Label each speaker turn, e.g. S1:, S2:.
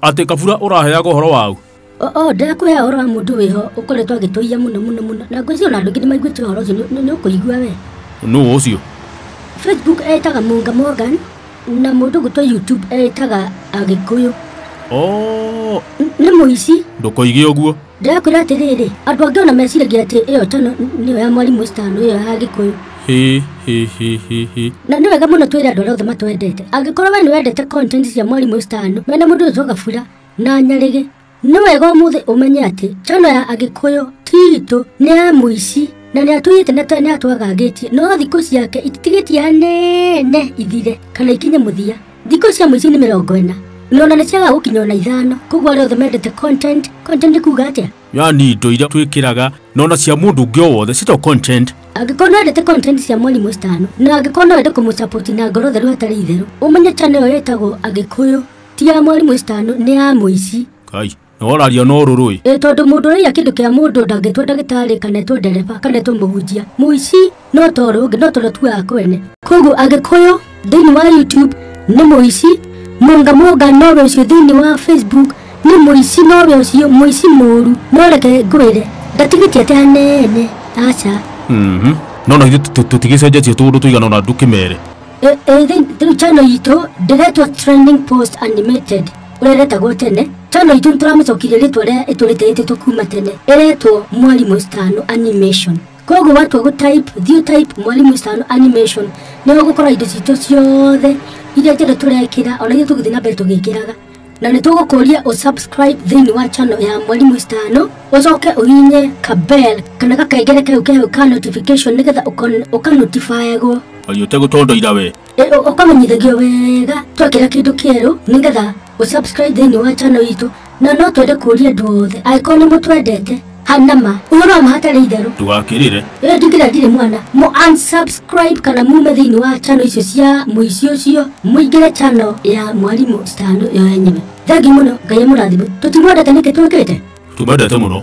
S1: Atĩ kabura ũraheaga ũhoro wau? O, o ndakũhe
S2: ũhoro wa mũndũ wĩho ũkoretwo agĩtũiya mũno mũno mũno na ngwĩciria ona andũ aingĩ nĩ maiguĩte ũhoro ũcio nĩ- nĩ ũkũigua we Nũũ ũcio?
S1: facebook
S2: etaga munga morgan na mũndũ gwitũ youtube etaga agĩkũyũ Oo, N- nĩ mũici ndũkoige ũguo.
S1: Ndĩrakwĩra atĩrĩrĩ,
S2: andũ angĩ ona meciragia atĩ ĩyo tano nĩyo ya mwarimũ Stan ĩyo ya Gĩkũyũ. Hi hi hi hi hi. Na nĩ wega mũno twĩre andũ arĩa othe matwendete. Angĩkorwo we nĩ wendete content cia mwarimũ Stan, we na mũndũ wĩtwo Gabura na Nyarĩgĩ, nĩ wega ũmũthĩ ũmenye atĩ channel ya Agĩkũyũ ti itũ, nĩ ya mũici na nĩ atũiyĩte na nĩ atwagangĩtie, no thikũ ciake ititigĩtie hanene ithire kana ikinye mũthia. Thikũ cia mũico nĩ mĩrongo ĩna. Nona nĩ ciaga gũkinya ona ithano. Koguo arĩa othe mendete content, content kuga atĩa? yani indo iria
S1: twĩkĩraga nona cia mũndũ ũngĩ o wothe cito content Angĩkorwo nĩ wendete content
S2: cia mwarimũ citano, na angĩkorwo no wende kũmũcapoti na ngoro theru hatarĩ itherũ, ũmenye channel ĩyo ĩtagwo Agĩkũyũ, ti ya mwarimũ citano, nĩ ya mũici. kai Nĩworario
S1: na ũrũrũ ĩ. Ĩ tondũ mũndũ ũraiya kĩndũ
S2: kĩa mũndũ ndangĩtua ndagĩtarĩ kana etwo ndereba kana etwo mũhunjia mũici no toro ũngĩ no toro tuaga kwene koguo agĩkũyũ thĩinĩ wa youtube nĩ mũici mũnga mũnga nowe ũcio thĩinĩ wa facebook nĩ mũici nowe ũcio mũici mũũru no reke ngwĩre ndatigĩtie atĩ hanene aca Mhm. No
S1: no ithuĩ tũ- tũtigĩcenjetie tũũndũ tũigana ona ndũkĩmere. Ĩ- ĩ, thĩ- thĩ-
S2: channel itũ ndĩretwo trending post animated ũreretagwo tene channel itũ nĩtũramĩcokirie rĩtwa rĩa ĩtũrĩtĩrĩtĩtwo kuma tene ĩretwo mwarimũ stano animation koguo watua gũ type thiũ type mwarimũ stano animation nĩ ũgũkora indo citũ ciothe iria njothe tũrekĩra ona iria tũgũthiĩ na mbere tũgĩkĩraga na nĩ tũgũkũria ũ subscribe thĩinĩ wa channel ya mwarimũ stano ũcoke ũhinye kabel kana gakengere kau kehau ka notification nĩgetha ũkanotifayagwo Wari ũtegũtondoira
S1: we ũkamenyithagio
S2: wega twekĩra kĩndũ kĩerũ nĩgetha ũsubscribe thĩinĩ wa channel itũ na no twende kũria andũ othe angĩkorwo nĩ mũtwendete hanama ũhoro wa mahatarĩ itherũ ndũgakĩrĩre ĩyo
S1: ndingĩra ndirĩ mwana
S2: mũ unsubscribe kana mume thĩinĩ wa channel icio cia mũici ũcio mũingĩre channel ya mwarimũ standu ĩyo yenyewe thengi mũno ngai amũrathime tũtimwendete nĩkĩ twĩkĩte tũmendete mũno